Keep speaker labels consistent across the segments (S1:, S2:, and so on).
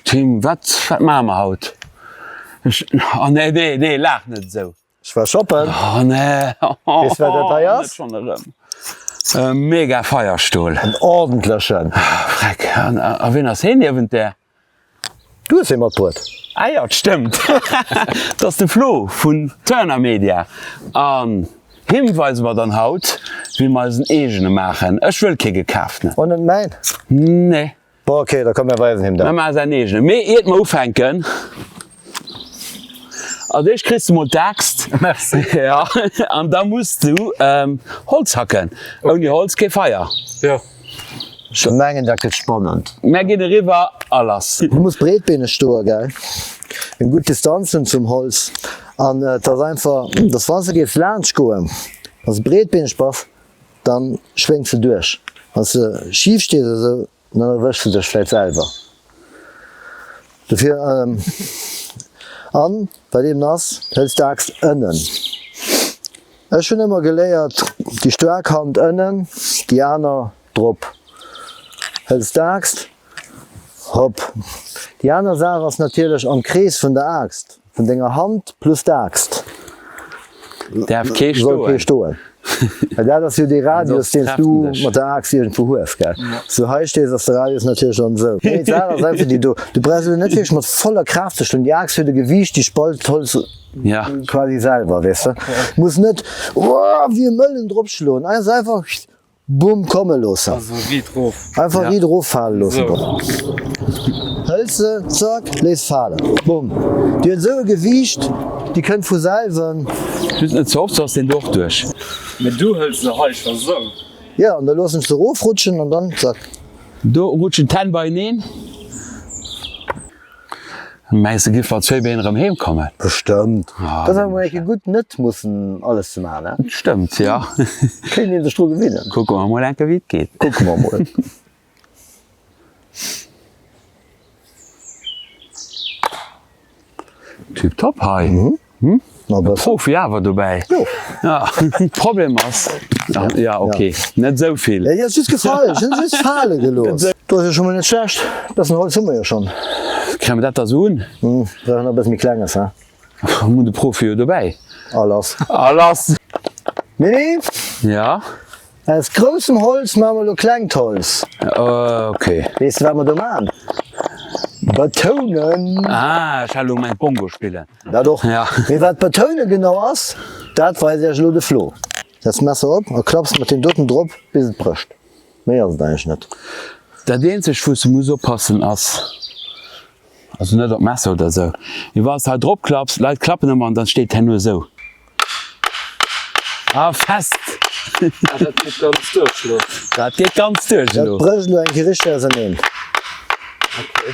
S1: Tim, wat maache mer haut? Oh nee, nee, nee, laach net esou. Ech war shoppen. Oh nee. Weess wat dat hei ass? E Mega-Feierstol. En ordentlechen. Freck. A wien ass heen niewent där? Du hues ee mat bruet. Ah jo, et stëmmt. Et ass de Flo vun Turner Media. An him weise mer dann haut, wéi mer eisen eegene maachen. Ech wëll kee gekaaften. Och net mäin? Nee. Bon, ok, da komm mir weisen him dat. Mir maache säin eegene. Mee iert mer ufänken. Als éischt kriss du mol d'Aaxt an da muss du Holz hacken. Ouni Holz kee Feier. Ech mengen dat gëtt spannend. Mär ginn eriwwer a lass. Du muss breetbeeneg stoe gell, eng gutt Distanz hunn zum Holz an et ass einfach dass wann s de géifs laanscht goen, wann s de breetbeeneg bass, dann schwéngs de duerch, wann s de schif stees esou Dann erwësch de dech vläit selwer dofir. An bei deem Nass hëls d'Aaxt ënnen. Ech hunn ëmmer geléiert, déi staark Hand ënnen, déi aner drop. Hëls d'Aaxt rop. Déi aner Saach ass natierlech am Krees vun der Aaxt. Vun denger Hand plus d'Aaxt. Däerf kee stoen. Soll kee stoen. Well dat ass jo dee Radius, deen s du mat der Aaxt iergendwou hues, gell? Wann s du hei stees, ass de Radius natierlech dann esou. Nee, d'Saach ass einfach déi do, du brauchs elo net wierklech mat voller Kraaft ze schloen. Déi Aaxt huet e Gewiicht, déi spalt d'Holz quasi selwer, weess de. Du muss net, oh, wéi e Mëllen drop schloen. Ass einfach. Bumm komme loossen. Einfach riit erof fale loossen. Hëls se, zack, léiss falen. Bumm. Déi huet esou e Gewiicht, déi kënnt vu selwen. Just net ze oft, soss ass deen do och duerch. Mee du hëls se hei scho sou. Jo, an da loossen ech se erofrutschen an dann, zack. Do rutschen d'Hänn beieneen. Mengs de giff mat zwéi Been erëm heem kommen? Bestëmmt. Dass awer mol eng Kéier gutt net mussen alles ze maachen, ne? Stëmmt, jo. Kéint een sech dru gewinnen. Kucke mer mol eng Kéier wéi et geet. Kucke mer mol. Tiptop hei. Profi awer dobäi Problem ass ja okay net sou vill Krémme dat da sou un mi kleng ass hun de Profi jo dobäi Ja aus groussem Holz ma mer lo klengt Holz okay Weess de wat mer do man? Betounen Ech hat lo gemengt Bongo spillen. Dat och. Ja. Mee wat d'Betoune genau ass, dat weist Iech elo de Flo. Setz d'Messer op a klapps mat deem doten drop bis et brécht. Méi ass et eigentlech net. Dat eenzegt wou s de muss oppassen ass, also net op d'Messer oder esou, mee wann s de hei drop klapps, Leit klappen ëmmer an dann steet herno esou a fest. Ah dat geet ganz duerch elo. Dat geet ganz duerch Dat elo. brécht elo eng Kéier richteg auserneen. Okay.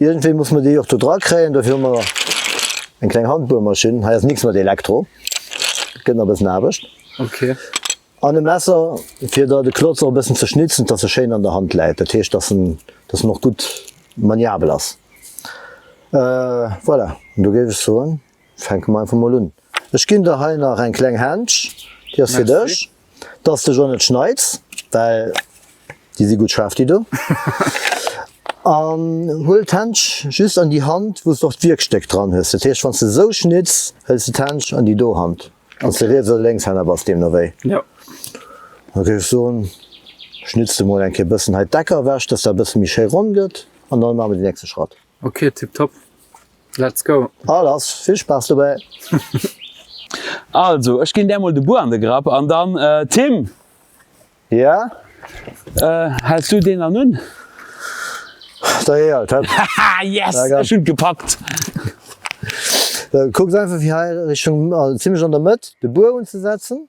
S1: Iergendwéi musse mer déi och do dra kréien. Dofir hu mer eng kleng Handbuermaschinn. Hei ass nix mat Elektro, et gëtt nach e bëssen Aarbecht. An e Messer, fir der de Klotz och e bëssen ze schnitzen, dass e schéin an der Hand läit. Dat heescht, dass en, dass en och gutt maniabel ass. Voilà, an do géif ech soen. Fänke mer einfach mol un. Ech ginn der hei nach eng kleng Händsch, déi ass fir dech, dass s de jo net schneids, well déi si gutt schaarf déi do. An huel d'Händsch just an déi Hand, wou s de och d'Wierkstéck dran hues. Dat heescht, wann s de esou schnidds, hëls de d'Händsch an déi do Hand, wann s de Riets oder Lénkshänner bass, deemno wéi. Da géif ech soen, schnidds de mol eng Kéier e bëssen hei d'Eck ewech, dass dat e bësse méi schéi ronn gëtt an da maache mer deen nächste Schratt. Ok tip top let's go. All ass, vill Spaass dobäi. Also ech ginn där mol de Buer an de Grapp an dann Tim. Jo. Häls du deen dann un? Da hei alt hëpp. Haha yes ech hunn et gepackt. Kuckt einfach fir hei Richtung, also zimlech an der Mëtt de Buer unzesetzen.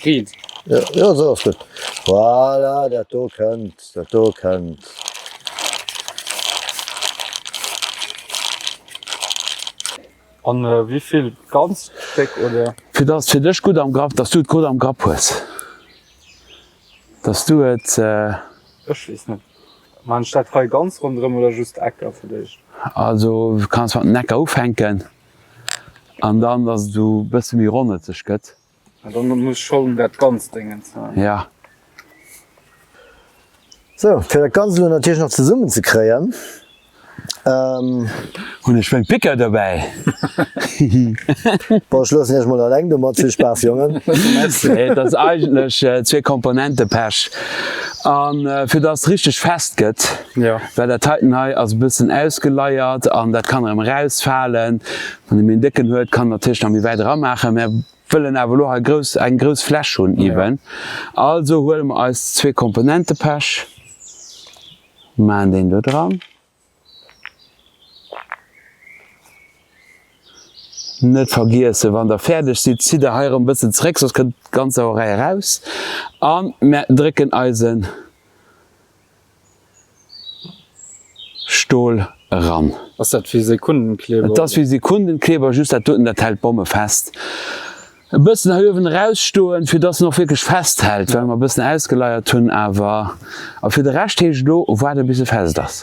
S1: Clean. Jo, esou ass gutt. Voilà, dat do kënnt, dat do kënnt. An wéi vill? Ganz déck oder? Fir dass et fir dech gutt am Grapp, dass du et gutt am Grapp hues. Dass du et. Ech weess net. Maan ech dat hei ganz ronderëm oder just d'Ecker fir d'éischt? Also kanns mat den Ecker ufänken an dann dass et esou e bësse méi ronnetzeg gëtt. An dann muss Schollen dat ganzt Déngens man. Ja. Sou, fir dat Ganzt elo natierlech nach zesummen ze kréien, ëhm. Hunn ech meng Picker dobäi. Hihi. Bon, ech loossen iech mol alleng domat. Vill Spaass, Jongen. Merci. Et ass eigentlech zwee Komponente Pech. A fir dass et richteg fest gëtt, well dat heiten hei ass e bëssen ausgeleiert an dat kann erëm erausfalen, Wann ee méi en décken huet, kann en natierlech nach méi wäit eramaachen. Mär wëllen awer elo hei grouss, eng grouss Fläch hunn iwwen. Also huele mer eis zwee Komponentepesch, maachen deen do dran. Net vergiesse wann der fäerdeg sidd, zitt der hei erëm e bëssen zréck, soss kënnt d'ganz Sauerei eraus. An mär drécken eisen Stol eran. Ass dat wéi Sekundenkleber? Et ass wéi Sekundenkleber, just dat doten dat hält Bomme fest. E bëssen hei uewen erausstoen, fir dass en och wierklech festhält, well mer e bëssen ausgeleiert hunn awer. A fir de Rescht heescht elo waarde bis e fest ass.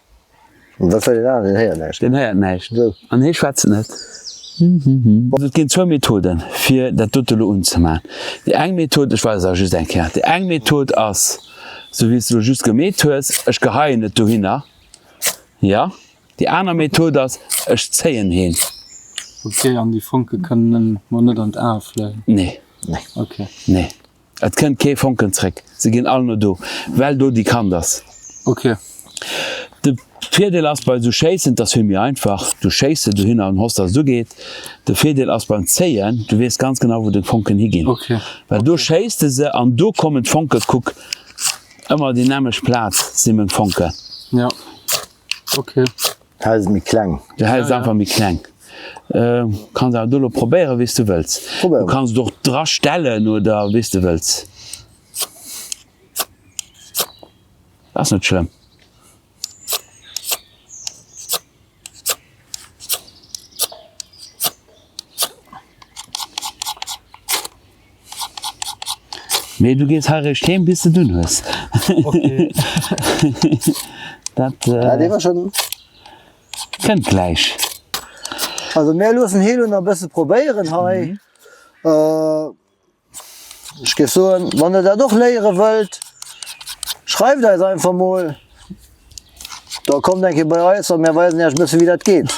S1: Wat soll deen aneren? Deen héiert näischt. Deen héiert näischt. Esou. An hee schwätzt net. Also et ginn zwou Methoden, fir dat dote elo unzemaachen. Déi eng Method, ech weisen se just eng Kéier, déi eng Method ass, esou wéi s de elo just gemeet hues, ech geheien et dohinner, jo. Déi aner Method ass, ech zéien heen. Ok, an déi Fonke kënnen mer net an d'Ae fléien? Nee. Nee. Ok. Nee. Et kënnt kee Fonken zréck. Se ginn all no do, well do déi Kant ass. Ok. De Virdeel ass bei esou Schéissen, et ass vill méi einfach. Du schéiss se dohinner an hoffs, dass et ugeet. De Virdeel ass beim Zéien, du weess ganz genau, wou deng Fonken higinn. Ok. Well do schéiss de se an do kommen d'Fonken. Kuck ëmmer déi nämmeg Plaz si meng Fonken. Jo. Ok. Hei ass et méi kleng. Jo, hei ass et einfach méi kleng. Kanns awer do elo probéieren, wéi s du wëlls. Probéieren. Du kanns et och drastellen oder wéi s du wëlls. Ass net schlëmm. Mee du gees hei réischt heem bis de dunn hues. Dat kënnt gläich. Also mir loossen hie lo nach e bësse probéieren hei. Ech géif soen, wann der dat och léiere wëllt, schreift eis einfach mol. Da kommt eng Kéier bei eis a mär weisen Iech e bëssen, wéi dat geet.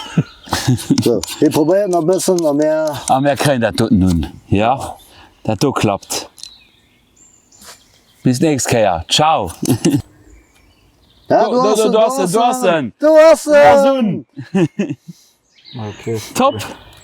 S1: Sou, hie probéiert nach e bëssen a mär. A mär kréien dat doten un. Jo, dat do klappt. Bis d'nächst Kéier. Ciao! Ah, do ass en, do ass en! Do ass en! Ass un! Top!